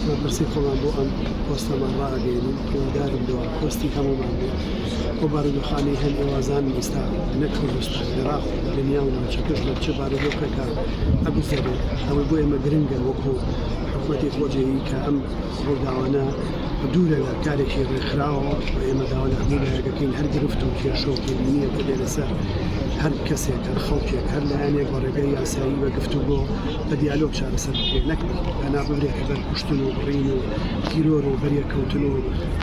مەپرسین خۆمان بۆ ئەم پۆستەمان ڕائەگەیەنین هیوادارم بۆ پۆستی هەموومان بێت ئەو بارودۆخانەی هەن ئێوە زانن ئیستا نەک کوردستان عێراق و دنیا و ناوچەکەش لە چ بارودۆخێکا ئەگوزەرێت ئەوەی بۆ ئێمە گرنگە وەکو حکومەتی خۆجێیی کە ئەم ڕووداوانە دوورە لە کارێکی ڕێکخراوە و ئێمە داوا لە هەموو لایەک دەکەین هەر گرفت و کێشە و تێبینییەک دەبێت لەسەر هەر کەسێک هەر خەڵکێک هەر لایەنێک بە ڕێگەی یاسایی بە گفتوگۆ بە دیالۆگ چارەسەر بکرێت نەک پەنا ببرێتە بەر کوشتن و بڕین و تیرۆر و بەریەککەوتن و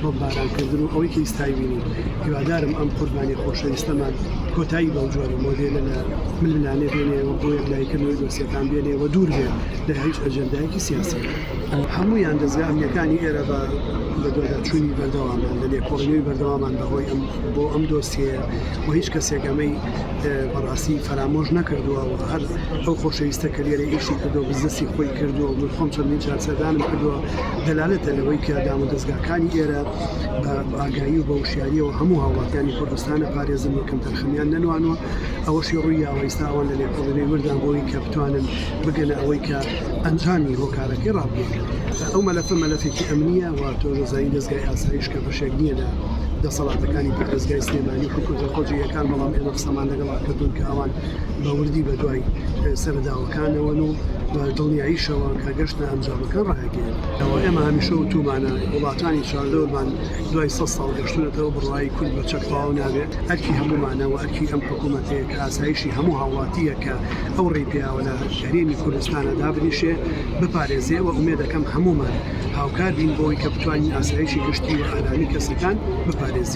بۆمبارانکردن و ئەوەی کە ئیستای بینی هیوادارم ئەم قوربانی خۆشەویستەمان کۆتایی بەو جۆرە مۆدێلە لە ململانێ بێنێ و بۆ یەکلایکردنەوەی دۆسیەکان بێنێ و دوور بێت لە هیچ ئەجندایەکی سیاسی هەمویان دەزگا ئەمنیەکانی ئێرە بە بە دواداچوونی بەردەوامان لە لێکۆڵینەوەی بەردەوامان بەهۆی ئەم بۆ ئەم دۆسیەیە و هیچ کەسێک ئەمەی بەڕاستی فەرامۆش نەکردووە و هەر ئەو خۆشەویستە کە لێرە ئیشی کردو بزنسی خۆی کردووە من خۆم چەندین جار سەردانم کردووە دەلالەتە لەوەی کە دام و دەستگاکانی ئێرە بە ئاگایی و بە وشیاریەوە هەموو هاوڵاتیانی کوردستانە پارێزن و کەم تەرخەمیان نەنوانوە ئەوەشی ڕووی یاوەیستاوان لە لێکۆڵینەوەی وردان بۆی کە بتوانن بگەنە ئەوەی کە ئەنجامی هۆکارەکەی ڕابگەن ئەو مەلەفە مەلەفێکی ئەمنیە و تۆ دەزانین دەستگای ئاسایش کە بە شک نیە لە دەسەڵاتەکانی پارێزگای سلێمانی و حکومەتە خۆجێیەکان، بەڵام ئێمە قسەمان لەگەڵا کردوون کە ئەوان بە وردی بەدوای سەرەداوەکانەوەن و بە دڵنیاییشەوە کە گەشتە ئەنجامەکان ڕایگەیەندراوە، ئێمە هەمیشە وتومانە وڵاتانی چواردەورمان دوای سەد ساڵ گەشتوونەتەوە، بڕوای کورد بە چەک تەواو نابێت، ئەرکی هەموومانە و ئەرکی ئەم حکومەتەیە کە ئاسایشی هەموو هاوڵاتییەک کە ئەو ڕێی پێیاوە لە هەرێمی کوردستانە دابنیشێ، بپارێزێ و ئومێدەکەم هەموومان. هاوکار بین بۆی کە بتوانین ئاسایشی گشتی و ئارامی کەسەکان بپارێزین.